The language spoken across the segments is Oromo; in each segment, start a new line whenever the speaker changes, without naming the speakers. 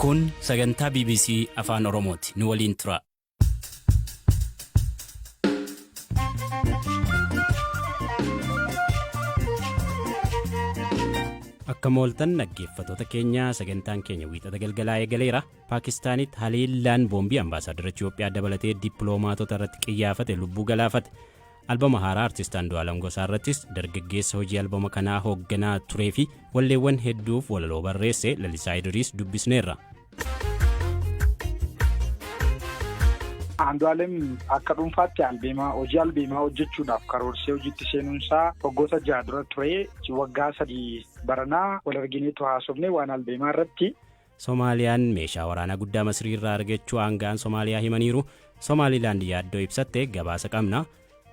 Kun sagantaa BBC Afaan Oromooti. Nu waliin tura. Akka mooltan dhaggeeffattoota keenya sagantaan keenya wiixata galgalaa eegaleera. Paakistaanitti haleellaan boombii ambaasaadara Itoophiyaa dabalatee dippiloomaatota irratti qiyyaafate lubbuu galaafate. Albama haaraa Artist Andu'aalam Gosaa irrattis dargaggeessa hojii albama kanaa hoogganaa turee fi walleewwan hedduuf walaloo barreesse Lalisaa Idiriis dubbisneerra.
Andu'aalem akka dhuunfaatti albeemaa hojii albeemaa hojjechuudhaaf karoorsee hojiitti seenuunsaa waggoota jaha dura ture waggaa sadii baranaa wal argineetu haasofne waan albeemaa irratti Somaaliyaan
meeshaa waraanaa guddaa Masrii irraa argachuu aanga'aan Somaaliyaa himaniiru. Somaalilaand yaaddoo ibsatte gabaasa qabna.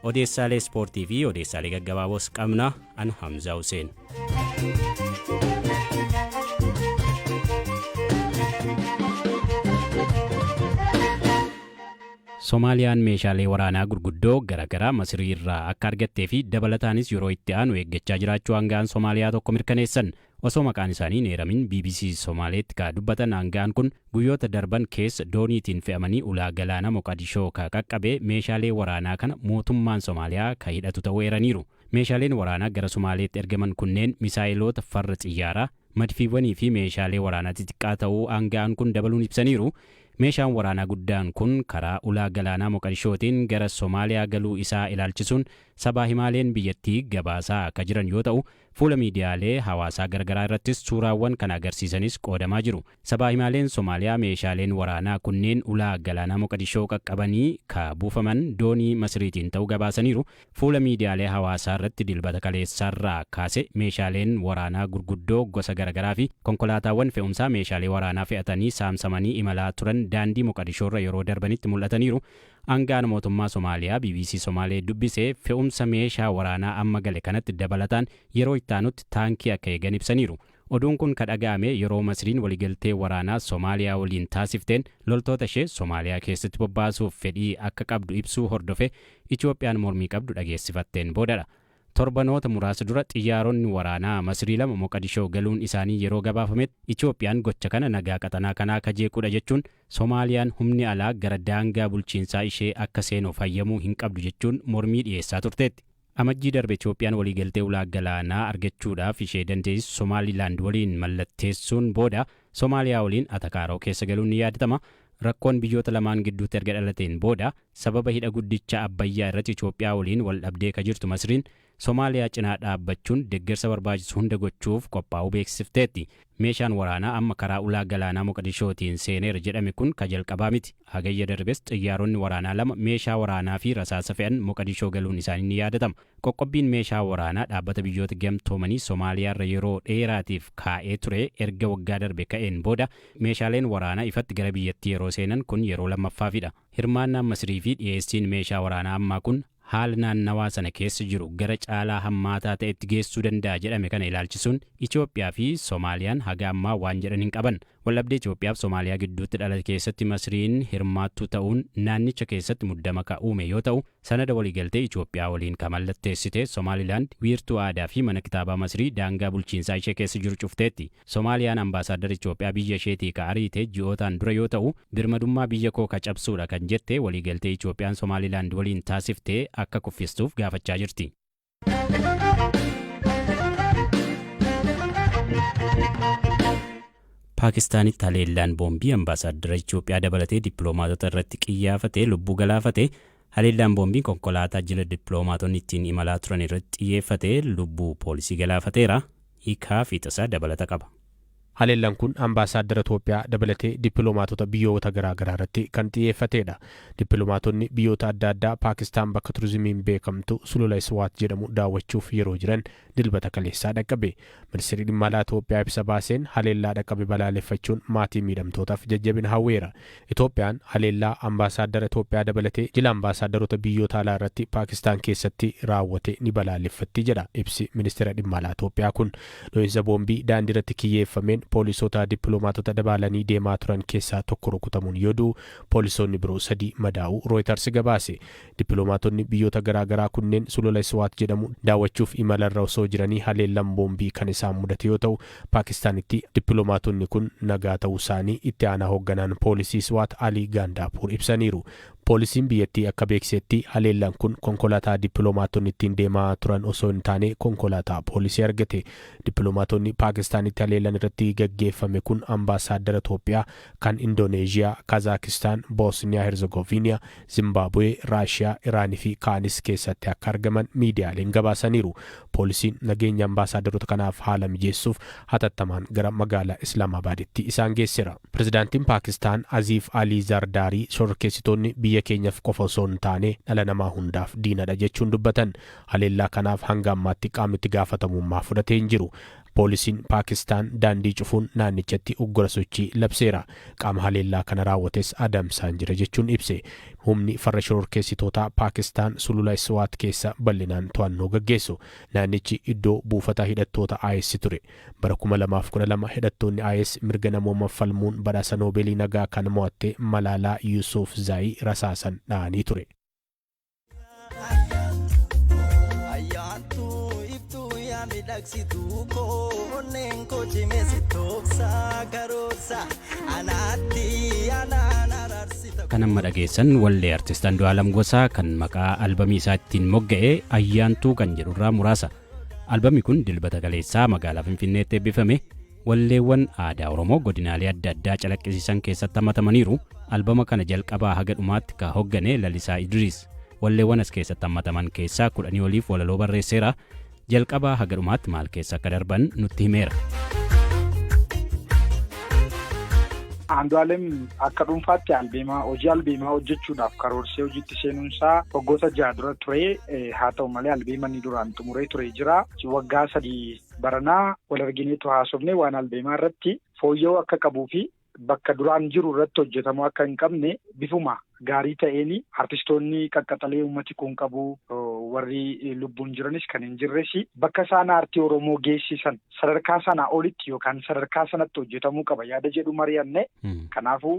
Odeessaalee ispoortii fi odeessaalee gaggabaaboos qabna. An Hamzaa Huseen. Somaaliyaan meeshaalee waraanaa gurguddoo garaagaraa Masrii irraa akka argattee fi dabalataanis yeroo itti aanu eeggachaa jiraachuu aanga'aan Somaaliyaa tokko mirkaneessan. Osoo maqaan isaanii hin eeramin bbc Somaaleetti ka dubbatan aanga'aan kun, guyyoota darban keessa dooniitiin fe'amanii ulaa galaana Moqadishoo ka qaqqabe meeshaalee waraanaa kana mootummaan Somaaliyaa ka hidhatu ta'uu eeraniiru. Meeshaaleen waraanaa gara Somaaleetti ergaman kunneen misaayeloota farra xiyyaaraa, madfiiwwanii fi meeshaalee waraanaa xixiqqaa ta'uu aanga'aan kun dabaluun ibsaniiru. Meeshaan waraanaa guddaan kun karaa ulaa galaanaa Moqadishootiin gara Somaaliyaa galuu isaa ilaalchisuun sabaa himaaleen biyyattii gabaasaa ka jiran yoo ta'u, Fuula miidiyaalee hawaasaa garagaraa irrattis suuraawwan kana agarsiisanis qoodamaa jiru. Sabaahimaaleen Somaaliyaa meeshaaleen waraanaa kunneen ulaa galaanaa Moqadishoo qaqqabanii ka buufaman doonii Masiriitiin ta'uu gabaasaniiru. Fuula miidiyaalee hawaasaa irratti Dilbata kaleessaarraa kaase meeshaaleen waraanaa gurguddoo gosa garagaraafi konkolaataawwan fe'umsaa meeshaalee waraanaa fe'atanii saamsamanii imalaa turan daandii Moqadishoorra yeroo darbanitti mul'ataniiru. Aanga'aan mootummaa Somaaliyaa bbc Somaalee dubbise fe'umsa meeshaa waraanaa amma gale kanatti dabalataan yeroo itti aanutti taankii akka eegan ibsaniiru. Oduun kun ka dhaga'ame yeroo Masriin waliigaltee waraanaa Somaaliyaa waliin taasifteen loltoota ishee Somaaliyaa keessatti bobbaasuuf fedhii akka qabdu ibsuu hordofee Itoophiyaan mormii qabdu dhageessifatteen boodadha. Torbanoota muraasa dura xiyyaaronni waraanaa Masrii lama Moqadishoo galuun isaanii yeroo gabaafametti Itoophiyaan gocha kana nagaa qaxanaa kanaa ka jeequudha jechuun Somaaliyaan humni alaa gara daangaa bulchiinsaa ishee akka seenuuf hayyamuu hin qabdu jechuun mormii dhiyeessaa turteetti. Amajjii darbe Itoophiyaan waliigaltee ulaa galaanaa argachuudhaaf ishee dandeessisu Somaalilaand waliin mallatteessuun booda Somaaliyaa waliin atakaaroo keessa galuun ni yaadatama. Rakkoon biyyoota lamaan gidduutti erga dhalateen booda, Sababa hidha guddicha Abbayyaa irratti Itoophiyaa waliin wal dhabdee ka jirtu Masriin, Somaaliyaa cinaa dhaabbachuun deggersa barbaachisu hunda gochuuf qophaa'uu beeksifteetti. Meeshaan waraanaa amma karaa ulaa galaanaa Moqadishootiin seeneera jedhame kun ka jalqabaa miti. Hagayya darbes xiyyaaronni waraanaa lama meeshaa waraanaa fi rasaasa fe'an Moqadishoo galuun isaanii ni yaadatama. Qoqqobbiin meeshaa waraanaa Dhaabbata Biyyoota Gamtoomanii Somaaliyaa irra yeroo dheeraatiif kaa'ee ture erga waggaa darbe ka'een booda meeshaaleen waraanaa ifatti gara biyyattii yeroo seenan kun yeroo lammaffaafidha. Hirmaannaan Masirii fi dhiyeessiin meeshaa waraanaa ammaa kun haala naannawaa sana keessa jiru gara caalaa hammaataa ta'etti geessuu danda'a jedhame kana ilaalchisuun Itoophiyaa fi Somaaliyaan haga ammaa waan jedhan hin qaban. Waldhabdee Itoophiyaa fi Somaaliyaa gidduutti dhalate keessatti Masiriin hirmaattuu ta'uun naannicha keessatti muddama ka uume yoo ta'u, sanada waliigaltee Itoophiyaa waliin ka mallatteessite Somaalilaand wiirtuu aadaa fi mana kitaabaa Masirii daangaa bulchiinsaa ishee keessa jiru cufteetti. Somaaliyaan Ambaasaaddara Itoophiyaa biyya isheetii ka ariite ji'ootaan dura yoo ta'u, birmadummaa biyya koo ka cabsuudha kan jette waliigaltee Itoophiyaan Somaalilaand waliin taasifte akka kuffistuuf gaafachaa jirti. Paakistaanitti haleellaan boombii ambaasaaddara Itoophiyaa dabalatee dippiloomaatota irratti qiyyaafate lubbuu galaafate, Haleellaan boombii konkolaataa jila dippiloomaatonni ittiin imalaa turan irratti xiyyeeffate lubbuu poolisii galaafateera. Hiikaa fiixasaa dabalata qaba. Haleellaan kun
ambaasaaddara Toophiyaa dabalatee dippiloomaatota biyyoota garaa garaa irratti kan xiyyeeffateedha. Dippiloomaatonni biyyoota adda addaa Paakistaan bakka turizimiin beekamtu Sulula Iswaat jedhamu daawwachuuf yeroo jiran Dilbata kaleessaa dhaqqabe. Ministeerri Dhimma Alaa Itoophiyaa ibsa baaseen haleellaa dhaqqabe balaaleffachuun maatii miidhamtootaaf jajjabina hawweera. Itoophiyaan haleellaa ambaasaaddara Itoophiyaa dabalatee jila ambaasaaddaroota biyyoota alaa irratti Paakistaan keessatti raawwate ni balaaleffatti jedha ibsi Ministeera Dhimma Alaa Itoophiyaa kun. Dho'insa boombii daandiirratti kiyyeeffameen poolisoota dippiloomaatota dabaalanii deemaa turan keessaa tokko rukutamuun yoo du'u, poolisoonni biroo sadii madaa'uu Rooyitars gabaase. Dippilomaatonni biyyoota garaa garaa kunneen sulula Iswaat jedhamu daawwachuuf imalarra osoo jiranii haleellaan boombii kan isaan mudate yoo ta'u, Paakistaanitti dippilomaatonni kun nagaa ta'uusaanii itti aanaa hogganaan poolisii Iswaat Alii Gaandaapuur ibsaniiru. Poolisiin biyyattii akka beeksisetti haleellaan kun konkolaataa dippilomaatonni ittiin deemaa turan osoo hin taane konkolaataa poolisii argate. Dippilomaatonni Paakistaanitti haleellaan irratti gaggeeffame kun ambaasaaddara Toophiyaa, kan Indooneezhiyaa, Kaazaakistaan, Boosniyaa Herzagooviiniyaa, Zimbaabuwee, Raashiyaa, Iraan fi kaanis keessatti akka argaman miidiyaaleen gabaasaniiru. Poolisiin nageenya ambaasaadaroota kanaaf haala mijeessuuf hatattamaan gara magaalaa Islaamaabaaditti isaan geessera. Pirezidaantiin Paakistaan Aziif Alii Zardaarii shororkeessitoonni biyya keenyaf qofa osoo hin taane dhala namaa hundaaf diinadha jechuun dubbatan. Haleellaa kanaaf hanga ammaatti qaamni itti gaafatamummaa fudhate hin jiru. Poolisiin Paakistaan daandii cufuun naannichatti uggura sochii labseera. Qaama haleellaa kana raawwates adamsaan jira jechuun ibse. Humni farra shororkeessitootaa Paakistaan sulula Swaat keessa bal'inaan to'annoo gaggeessu. Naannichi iddoo buufata hidhattoota IS ture. Bara kuma lamaa fi kudha lama hidhattoonni IS mirga namoomaaf falmuun badhaasa Noobeelii Nagaa kan mo'atte Malaalaa Yusuufzaayi rasaasan dha'anii ture. miidhagsituu koo onneen
koo cimeessi toofsaa karoorsa anaatti anaan araarsita. Kan amma dhageessan wallee artist Andu'aalam Gosaa kan maqaa albamii isaa ittiin mogga'e Ayyaantuu kan jedhurraa muraasa. Albamni kun dilbata kaleessaa magaalaa Finfinneetti eebbifame. Walleewwan aadaa Oromoo godinaalee adda addaa calaqqisiisan keessatti hammatamaniiru. Albama kana jalqabaa haga dhumaatti ka hoggane Lalisaa Idriis. Walleewwan as keessatti hammataman keessaa kudhanii oliif walaloo barreesseera. Jalqabaa haga dhumaatti maal keessa akka darban nutti himeera.
Andu'aalem akka dhuunfaatti albeemaa hojii albeemaa hojjechuudhaaf karoorsee hojiitti seenuunsaa waggoota jaha dura ture. Haa ta'u malee albeema inni duraan xumuree ture jira. Waggaa sadii Baranaa wal argineetu haasofne waan albeemaa irratti fooyya'uu akka qabuu fi bakka duraan jiru irratti hojjetamuu akka hin qabne bifuma gaarii ta'een artistoonni qaqqaxalee uummati kun qabu warri lubbuun jiranis kan hin jirres bakka isaan aartii Oromoo geessisan sadarkaa sanaa olitti yookaan sadarkaa sanatti hojjetamuu qaba yaada jedhu mari'anne. Kanaafuu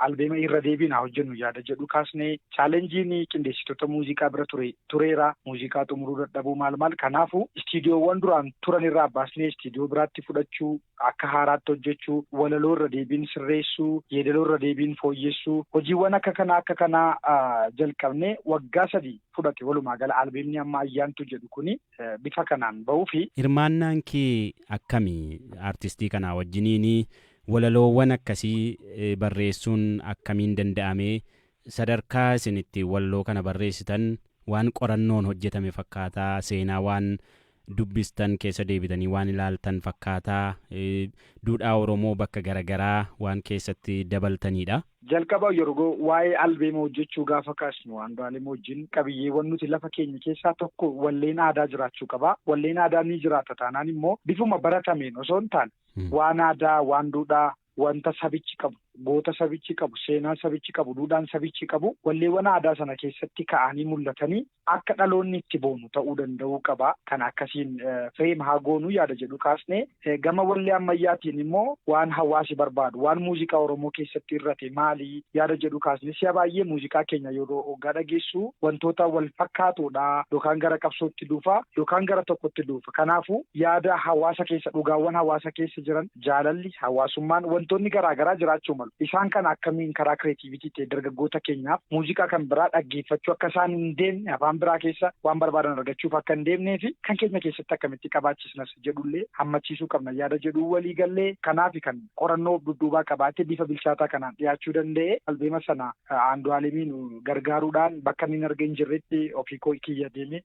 albeema irra deebiin haa hojjennu yaada jedhu kaasne chaalenjiin qindeessitoota muuziqaa bira ture tureera. Muuziqaa xumuruu dadhabuu maal maal kanaafu istiidiyoowwan duraan turan irraa baasnee istiidiyoo biraatti fudhachuu, akka haaraatti hojjechuu, walaloo irra deebiin sirreessuu, yeedaloo irra deebiin fooyyessuu hojiiwwan akka kanaa akka kanaa jalqabnee waggaa sadi fudhate walumaa gala albeemni amma Ayyaantuu jedhu kuni bifa kanaan bahuufi. Hirmaannaan kee
akkami artistii kanaa wajjiniini? Walaloowwan akkasii barreessuun akkamiin danda'amee? Sadarkaa isin itti walloo kana barreessitan waan qorannoon hojjetame fakkaata, seenaa waan dubbistan keessa deebitanii waan ilaaltan fakkaata, duudhaa Oromoo bakka gara garaa waan keessatti dabaltaniidha. Jalqaba yergo
waa'ee albeema hojjechuu gaafa kaasnu Andu'aalem wajjin qabiyyeewwan nuti lafa keenye keessaa tokko walleen aadaa jiraachuu qaba. Walleen aadaa ni jiraata taanaan immoo bifuma baratameen osoo hin taane waan aadaa, waan duudhaa, wanta sabichi qabu, goota sabichi qabu, seenaa sabichi qabu, duudhaan sabichi qabu walleewwan aadaa sana keessatti ka'anii mul'atanii akka dhaloonni itti boonu ta'uu danda'uu qaba. Kana akkasiin frame haa goonu yaada jedhu kaasne. Gama wallee ammayyaatiin immoo waan hawaasi barbaadu, waan muuziqaa Oromoo keessatti irrate maali yaada jedhu kaasne. Si'a baay'ee muuziqaa keenya yeroo hoggaa dhageessu wantoota wal fakkaatoodha. Yookaan gara qabsootti duufa, yookaan gara tokkotti duufa. Kanaafuu yaada hawaasa keessa, dhugaawwan hawaasa keessa jiran, jaalalli, hawaasummaan, wantoonni garaa garaa jiraachuu malu. Isaan kana akkamiin karaa kireetiivitii ta'e dargaggoota keenyaaf muuziqaa kan biraa dhaggeeffachuu akka isaan hin deemne, afaan biraa keessa waan barbaadan argachuuf akka hin deemnee fi kan keenya keessatti akkamitti qabaachisna isa jedhu illee hammachiisuu qabna yaada jedhuun walii gallee. Kanaafi kan qorannoo of dudduubaa qabaatee bifa bilchaataa kanaan dhiyaachuu danda'e. Albeema sana Aandu'aalemiin gargaaruudhaan bakka inni hin arge hin jirretti ofii koo kiyya deemee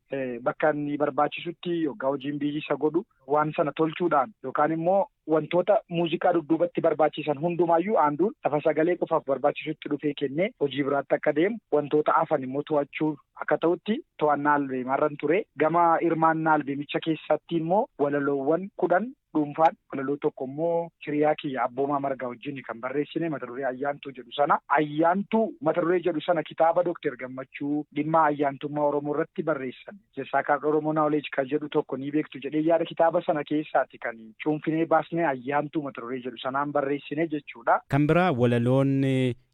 bakka inni barbaachisutti yoggaa hojiin biyyii isa godhu Waan sana tolchuudhaan yookaan immoo wantoota muuziqaa dudduubatti barbaachisan hundumaayyuu aanduun lafa sagalee qofaaf barbaachisutti dhufee kennee hojii biraatti akka deemu wantoota hafan immoo to'achuu akka ta'utti to'annaa albeemaarran ture. Gama hirmaannaa albeemicha keessatti immoo walaloowwan kudhan dhuunfaan walaloo tokko immoo hiriyaa kiyya abboomaa margaa wajjin kan barreessine mata duree ayyaantuu jedhu sana ayyaantuu mata duree jedhu sana kitaaba Dooktar Gammachuu dhimma ayyaantummaa Oromoo irratti barreessan The Sacred Oromo Knowledge kan jedhu tokko ni beektu jedhee yaada kitaaba sana keessaati kan cuunfinee baasnee Ayyaantuu mata duree jedhu sanaan barreessine jechuudha.
Kan biraa walaloon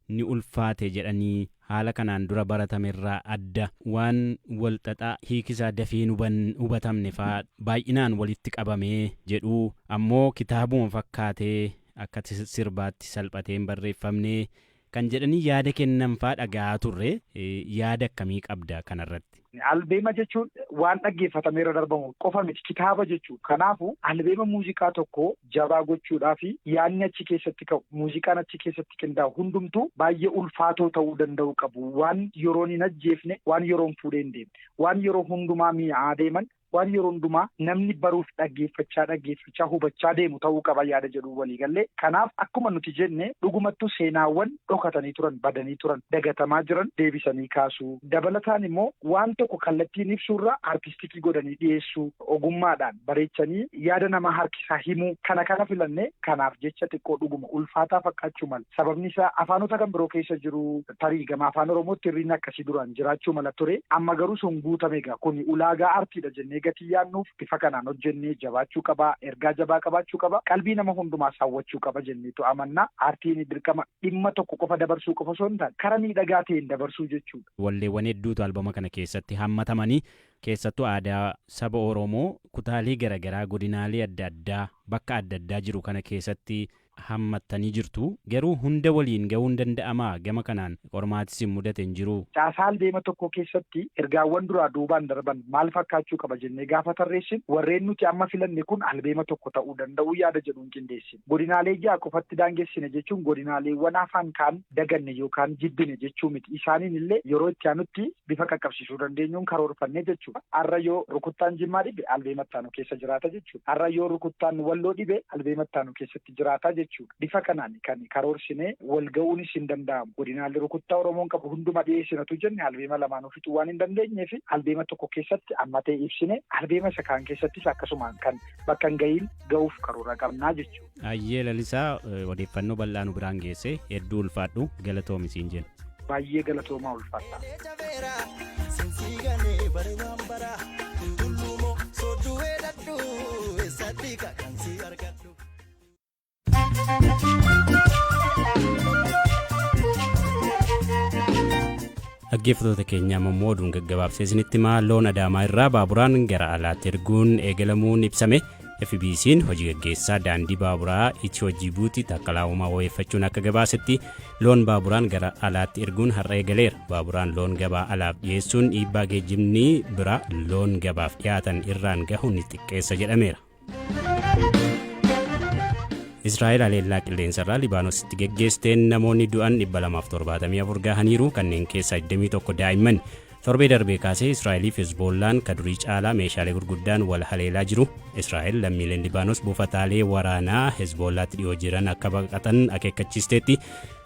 ni ulfaate
jedhanii
haala kanaan dura baratame irraa adda waan wal xaxaa hiiki isaa dafee hin hubatamne faa baay'inaan walitti qabame jedhu ammoo kitaabuma fakkaatee akka sirbaatti salphatee hin barreeffamne Kan jedhanii yaada kennan faa dhaga'aa turre. Yaada akkamii qabda kanarratti? Albeema jechuun
waan dhaggeeffatamee irra darbamu qofa miti. Kitaaba jechuudha. Kanaafuu albeema muuziqaa tokko jabaa gochuudhaaf yaadni achi keessatti ka'u, muuziqaan achi keessatti qindaa'u hundumtuu baay'ee ulfaatoo ta'uu danda'uu qabu. Waan yeroon hin ajjeefne, waan yeroon fuudhee hin deemne, waan yeroo hundumaa mi'aa deeman waan yeroo hundumaa namni baruuf dhaggeeffachaa dhaggeeffachaa hubachaa deemu ta'uu qaba yaada jedhuun walii galle. Kanaaf akkuma nuti jenne dhugumattuu seenaawwan dhokatanii turan, badanii turan, dagatamaa jiran deebisanii kaasuu, dabalataan immoo waan tokko kallattiin ibsuurra artistikii godhanii dhiyeessuu, ogummaadhaan bareechanii yaada namaa harkisaa himuu kana kana filanne. Kanaaf jecha xiqqoo dhuguma ulfaataa fakkaachuu mala. Sababni isaa afaanota kan biroo keessa jiru. Tarii gama Afaan Oromootti hir'inni akkasii duraan jiraachuu mala ture. Amma garuu sun guutame egaa. Kuni ulaagaa artiidha jennee gatii yaadnuuf bifa kanaan hojjennee jabaachuu qaba, ergaa jabaa qabaachuu qaba, qalbii nama hundumaas hawwachuu qaba jenneetu amanna. Artiin dirqama dhimma tokko qofa dabarsuu qofa osoo hin taane kara miidhagaa ta'een dabarsuu jechuudha. Walleewwan hedduutu
albama kana keessatti hammatamanii keessattuu aadaa saba Oromoo kutaalee garagaraa godinaalee adda addaa bakka adda addaa jiru kana keessatti hammattanii jirtu. Garuu hunda waliin ga'uun danda'amaa? Gama kanaan qormaati isin mudate hin jiruu? Caasaan deema tokkoo
keessatti ergaawwan duraa duubaan darban maal fakkaachuu qaba jennee gaafa tarreessinu warreen nuti amma filanne kun albeema tokko ta'uu danda'u yaada jedhuun qindeessine. Godinaalee ja'a qofatti daangessine jechuun godinaaleewwan hafan kaan daganne yookaan jibbine jechuu miti. Isaaniin illee yeroo itti aanutti bifa qaqqabsiisuu dandeenyuun karoorfannee jechuudha. Har'a yoo rukuttaan Jimmaa dhibe albeema itti aanu keessa jiraata jechuudha. Har'a yoo rukuttaan Walloo dhibe albeema itti aanu keessatti jiraata jechuudha. Bifa kanaan kan karoorsinee wal ga'uunis hin danda'amu. Godinaalee rukuttaa Oromoon qabu hunduma dhiyeessinatu jenne albeema lamaanuu fixuu waan hin dandeenyeef albeema tokko keessatti ammatee ibsine albeema isa kaan keessattis akkasumaan kan bakka hin ga'iin ga'uuf karoora qabnaa jechuudha. Ayyee Lalisaa
eh, odeeffannoo bal'aa nu biraan geesse hedduu ulfaadhu galatoomi siin jenna. Baay'ee galatoomaa
ulfaadha. Elee jabeera sinsii ganee bare waan bara tulluumoo sodduu weedhadhu eessatti kan si argadhu.
Dhaggeeffattoota keenya amma immoo oduun gaggabaabsee isinitti himaa loon adaamaa irraa baaburaan gara alaatti erguun eegalamuun ibsame FBC'n hojii gaggeessaa daandii baaburaa Itiyoo Jibuutii Taakkalaa Uumaa wabeeffachuun akka gabaasetti loon baaburaan gara alaatti erguun har'a eegaleera. Baaburaan loon gabaa alaaf dhiyeessuun dhiibbaa geejjibni biraa loon gabaaf dhiyaatan irraan gahu ni xiqqeessa jedhameera. Israa'el haleellaa qilleensarraa Libaanositti geggeessteen namoonni du'an 274 gahaniiru kanneen keessaa 21 daa'imman Torbee darbee kaasee Israa'eliif Hezboollaan ka durii caalaa meeshaalee gurguddaan wal haleelaa jiru. Israa'el lammiileen Libaanos buufataalee waraanaa Hezboollaatti dhiyoo jiran akka baqatan akeekkachiisteetti.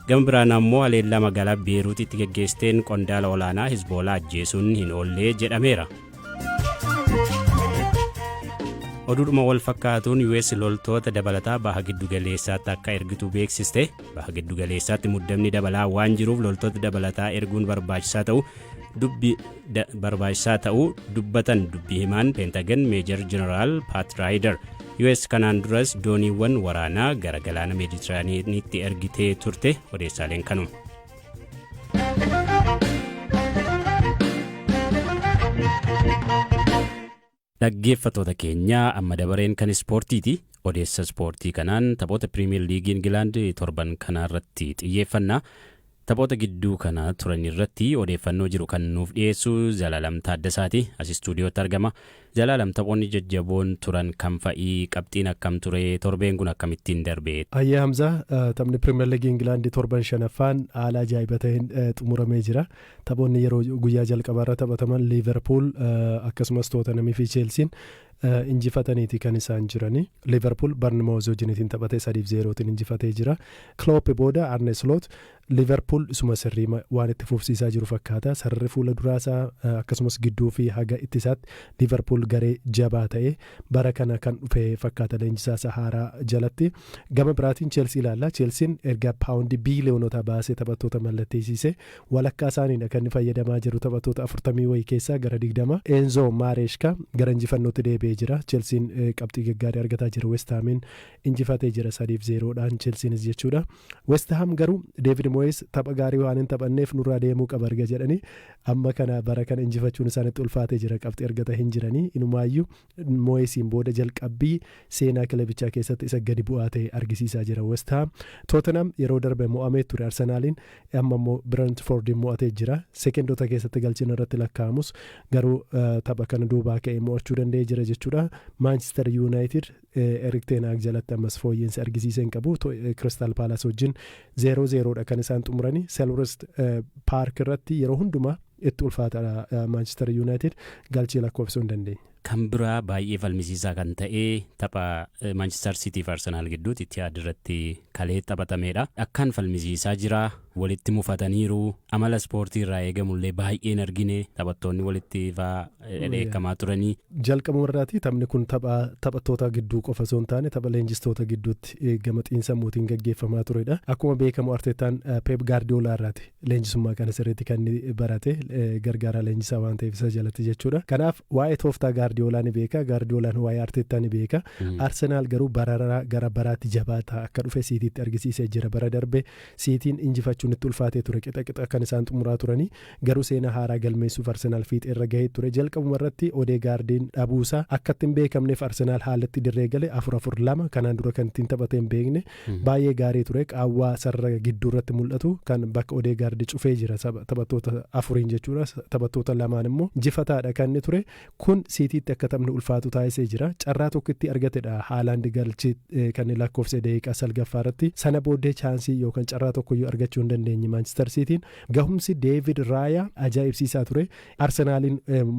Gama biraan ammoo haleellaa magaalaa Beeruutitti geggeessteen qondaala olaanaa Hezboolaa ajjeesuun hin oollee jedhameera. Oduudhuma wal fakkaatuun US loltoota dabalataa baha giddugaleessaatti akka ergitu beeksiste. Baha giddugaleessaatti muddamni dabalaa waan jiruuf loltoota dabalataa erguun barbaachisaa ta'u dubbi barbaachisaa ta'uu dubbatan dubbii himaan peentagan meejar jeneraal paat raayidar us kanaan duras dooniiwwan waraanaa gara galaana meeditiraaniitti ergitee turte odeessaaleen kanuma. Dhaggeeffattoota keenya amma dabareen kan ispoortiiti. Odeessa ispoortii kanaan taphoota Piriimiyer Liigii Ingilaand torban kanaa irratti xiyyeeffanna. Taphoota gidduu kana turan irratti odeeffannoo jiru kan nuuf dhiyeessu Zalaalam Taaddasaati. As istuudiyootti argama. Zalaalam taphoonni jajjaboon turan kam fa'i? Qabxiin akkam ture? Torbeen kun akkamittiin darbe? Hayyee Hamzaa,
taphni Piriimiyer Liigii Ingilaand torban shanaffaan haala ajaa'iba ta'een xumuramee jira. Taphoonni yeroo guyyaa jalqabaarra taphataman Liiverpuul akkasumas Tootanhamii fi Cheelsiin injifataniiti kan isaan jirani. Liiverpuul Barnimooz wajjiniitiin taphatee 3 fi 0tiin injifatee jira. Kiloop booda Arne Sloot Liiverpuul isuma sirrii waan itti fufsiisaa jiru fakkaata. Sararri fuula duraasaa akkasumas gidduu fi haga ittisaatti Liiverpuul garee jabaa ta'e bara kana kan dhufe fakkaata leenjisaasaa haaraa jalatti. Gama biraatiin Cheelsii ilaalla. Cheelsiin erga paawundii biiliyoonota baasee taphattoota mallatteessiise Walakkaa isaaniidha kan inni fayyadamaa jiru taphattoota afurtamii wayii keessaa gara digdama. Enzo Maresca gara injifannootti deebi'ee jira. Chelsiin qabxii gaggaarii argataa jira. West Haamiin injifatee jira sadii fi zeeroo dhaan Chelsiinis jechuudha. West Haam garuu Deevid Moyees tapha gaarii waan hin taphanneef nurraa deemuu qaba erga jedhanii amma kana bara kana injifachuun isaanitti ulfaatee jira. Qabxii argata hin jiranii. Inumaayyuu Mooyesiin booda jalqabbii seenaa kilebichaa keessatti isa gadi bu'aa ta'e argisiisaa jira West Haam. Tootenhaam yeroo darbe mo'amee ture Arsenaaliin, amma immoo Birentfoordiin mo'atee jira. Sekendoota keessatti galchiin irratti lakkaa'amus garuu tapha kana duubaa ka'ee mo'achuu danda'ee jira jechuudha. Maanchister Yuunaayitid Erik Ten Hag jalatti ammas fooyya'insa argisiisee hin qabu. Kiristaal Paalaas wajjin 0-0 dha kan isaan xumurani. Selhurst Paark irratti yeroo hundumaa Itti ulfaataadha Maanchistar Yuunaayitid galchii lakkoofsisuu hin dandeenye. Kan biraa baay'ee
falmisiisaa kan ta'e tapha Maanchistar Siitii fi Arsenaal gidduutti Itihaad irratti kalee taphatameedha. Akkaan falmisiisaa jira. Walitti mufataniiru. Amala ispoortii irraa eegamu illee baay'ee hin argine. Taphattoonni walitti fa'aa dheekkamaa turanii. Jalqabuma irraati
taphni kun tapha taphattoota gidduu qofa osoo hin taane tapha leenjistoota gidduutti gama xiinsammuutiin gaggeeffamaa turedha. Akkuma beekamu Arteettaan Peep Gaardiyoolaa irraati leenjisummaa kana sirriitti kan inni barate gargaaraa leenjisaa waan ta'eef isa jalatti jechuudha. Kanaaf waa'ee tooftaa Gaardiyoolaa ni beeka, Gaardiyoolaan waa'ee Arteettaa ni beeka. Arsenaal garuu bararaa gara baraatti jabaataa akka dhufe Siitiitti argisiisee jira. Bara darbe Siitiin injifachuun itti ulfaatee ture. Qixa qixa kan isaan xumuraa turanii. Garuu seenaa haaraa galmeessuuf Arsenaal fiixeerra gahee ture. Jalqabuma irratti Odeegaardiin dhabuusaa akka itti hin beekamneef Arsenaal haalatti dirree gale afur afur lama kanaan dura kan ittiin taphatee hin beekne Baay'ee gaarii ture qaawwaa sarara gidduu irratti mul'atu kan bakka Odeegaard cufee jira taphattoota afuriin jechuudha taphattoota lamaan immoo jifataadha kan inni ture kun siitiitti akka taphni ulfaatu taasisee jira carraa tokkitti argatedha haalaandi galchi kan inni lakkoofse daqiiqaa salgaffaa irratti sana booddee chaansii yookaan carraa tokkoyyuu argachuu hin dandeenye maanchister siitiin gahumsi deevid raayaa ajaa'ibsiisaa ture arsenaaliin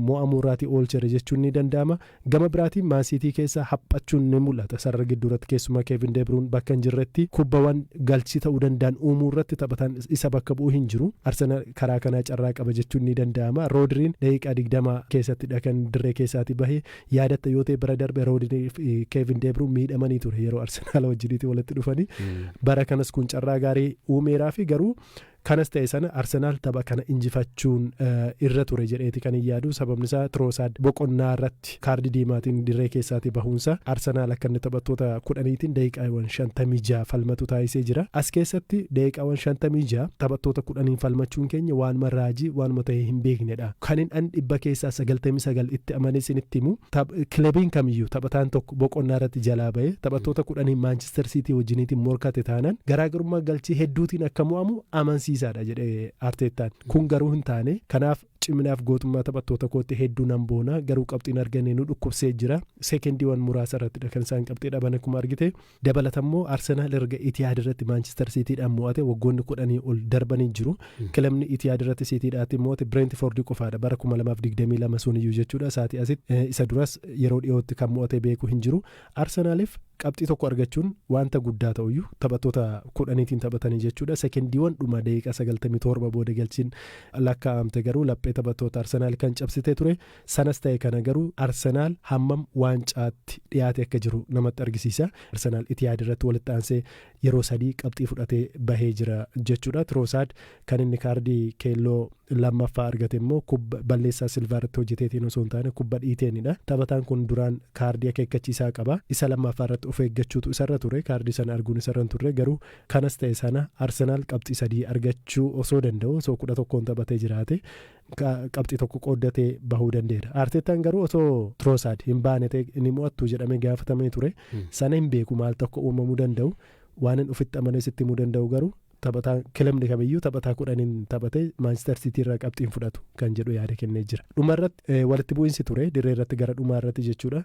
mo'amuu irraatii oolchere jechuun ni danda'ama Gama biraatiin Maan Siitii keessa haphachuun ni mul'ata. Sarara gidduurratti keessumaa Keevin De Biruun bakka hin jirretti kubbawan galchii ta'uu danda'an uumuurratti taphataan isa bakka bu'u hin jiru. Arsenaal karaa kanaa carraa qaba jechuun ni danda'ama. Roodriin daqiiqaa digdama keessattidha kan dirree keessaatii bahe. Yaadatta yoo ta'e bara darbe Roodriin fi Keevin De Biruun miidhamanii ture yeroo Arsenaal wajjiniitii walitti dhufanii. Bara kanas kun carraa gaarii uumeeraafi garuu Kanas ta'e sana Arsenaal tapha kana injifachuun irra ture jedheeti kan hin yaadu. Sababni isaa Tiroosaad boqonnaa irratti kaardii diimaatiin dirree keessaatii bahuun isaa Arsenaal akka inni taphattoota kudhaniitiin daqiiqaawwan 56 falmatu taasisee jira. As keessatti daqiiqaawwan 56 taphattoota kudhaniin falmachuun keenya waanuma raajii, waanuma ta'ee hin beeknedha. Kanin an dhibba keessaa 99 itti amanee isinitti himu Taph, Kilabiin kamiyyuu taphataan tokko boqonnaa irratti jalaa ba'ee taphattoota kudhaniin Maanchister Siitii wajjiniitiin morkate taanaan garaagarummaa galchii hedduutiin akka mo'amu amansiisaadha jedhe Arteettaan. Kun garuu hin taane. Kanaaf ciminaaf gootummaa taphattoota kootti hedduu nan boona garuu qabxiin arganne nu dhukkubsee jira. Seekendiiwan muraasa irrattidha kan isaan qabxii dhaban akkuma argite. Dabalatammoo Arsenaal erga Itihaad irratti Maanchister Siitiidhaan mo'ate waggoonni kudhanii ol darbanii jiru. Kilabni Itihaad irratti Siitiidhaatti mo'ate Bireentifoordi qofaadha. Bara 2022 suniyyuu jechuudha. Isaatii asitti isa duras yeroo dhiyootti kan mo'atee beeku hin jiru. Arsenaaliif qabxii tokko argachuun wanta guddaa ta'uyyuu taphattoota kudhaniitiin taphatanii jechuudha. Sekendiiwwan dhuma daqiiqaa 97 booda galchiin lakkaa'amte garuu laphee taphattoota Arsenaal kan cabsitee ture. Sanas ta'e kana garuu Arsenaal hammam waancaatti dhiyaate akka jiru namatti argisiisa. Arsenaal Itihaad irratti walitti aansee yeroo sadii qabxii fudhatee bahee jira jechuudha. Tiroosaad kan inni kaardii keelloo lammaffaa argate immoo kubba balleessaa Silvaa irratti hojjeteetiin osoo hin taane kubba dhiiteenidha. Taphataan kun duraan kaardii akeekkachiisaa qaba. Isa lammaffaa irratti of eeggachuutu isarra ture. Kaardii sana arguun isarra hin turre garuu kanas ta'e sana Arsenaal qabxii sadii argachuu osoo danda'u osoo kudha tokkoon taphatee jiraate qabxii tokko qooddatee bahuu danda'eera. Arteettaan garuu osoo Tiroosaad hin baane ta'e ni mo'attu jedhamee gaafatamee ture. Sana hin beeku maaltu akka uumamuu danda'u waan hin ofitti amanee sitti himuu danda'u garuu taphataa kilabni kamiyyuu taphataa kudhaniin taphatee Maanchister Siitii irraa qabxiin fudhatu kan jedhu yaada kennee jira. Dhuma irratti walitti bu'iinsi ture dirree irratti gara dhumaa irratti jechuudha.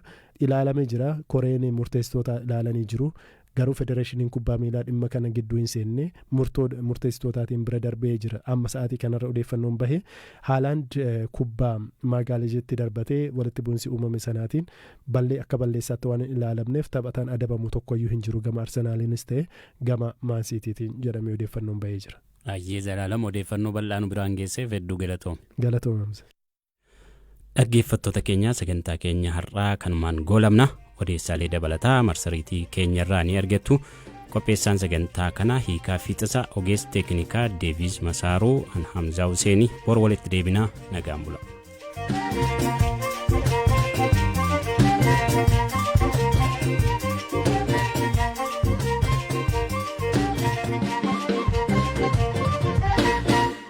Ilaalamee jira koreen murteessitoota ilaalanii jiru. Garuu Federeeshiniin Kubbaa Miilaa dhimma kana gidduu hin seenne, murtoo murteessitootaatiin bira darbee jira. Amma sa'aatii kanarra odeeffannoon bahe Haalaand kubbaa Maagaaleezitti darbatee walitti bu'insi uumame sanaatiin ballee akka balleessaatti waan hin ilaalamneef taphataan adabamu tokkoyyuu hin jiru gama Arsenaaliinis ta'e gama Maan Siitiitiin jedhamee odeeffannoon bahee jira. Ayyee Zalaalam
odeeffannoo bal'aa nu biraan geesseef hedduu galatoomi. Galatoomi Hamza. Dhaggeeffattoota keenya sagantaa keenya har'aa kanumaan goolabna odeessaalee dabalataa marsariitii keenya irraa ni argattu. Qopheessaan sagantaa kana hiikaa fiixasa ogeessi teeknikaa Deeviis Masaaruu Anhamzaa Huseenii bor walitti deebinaa nagaan bula.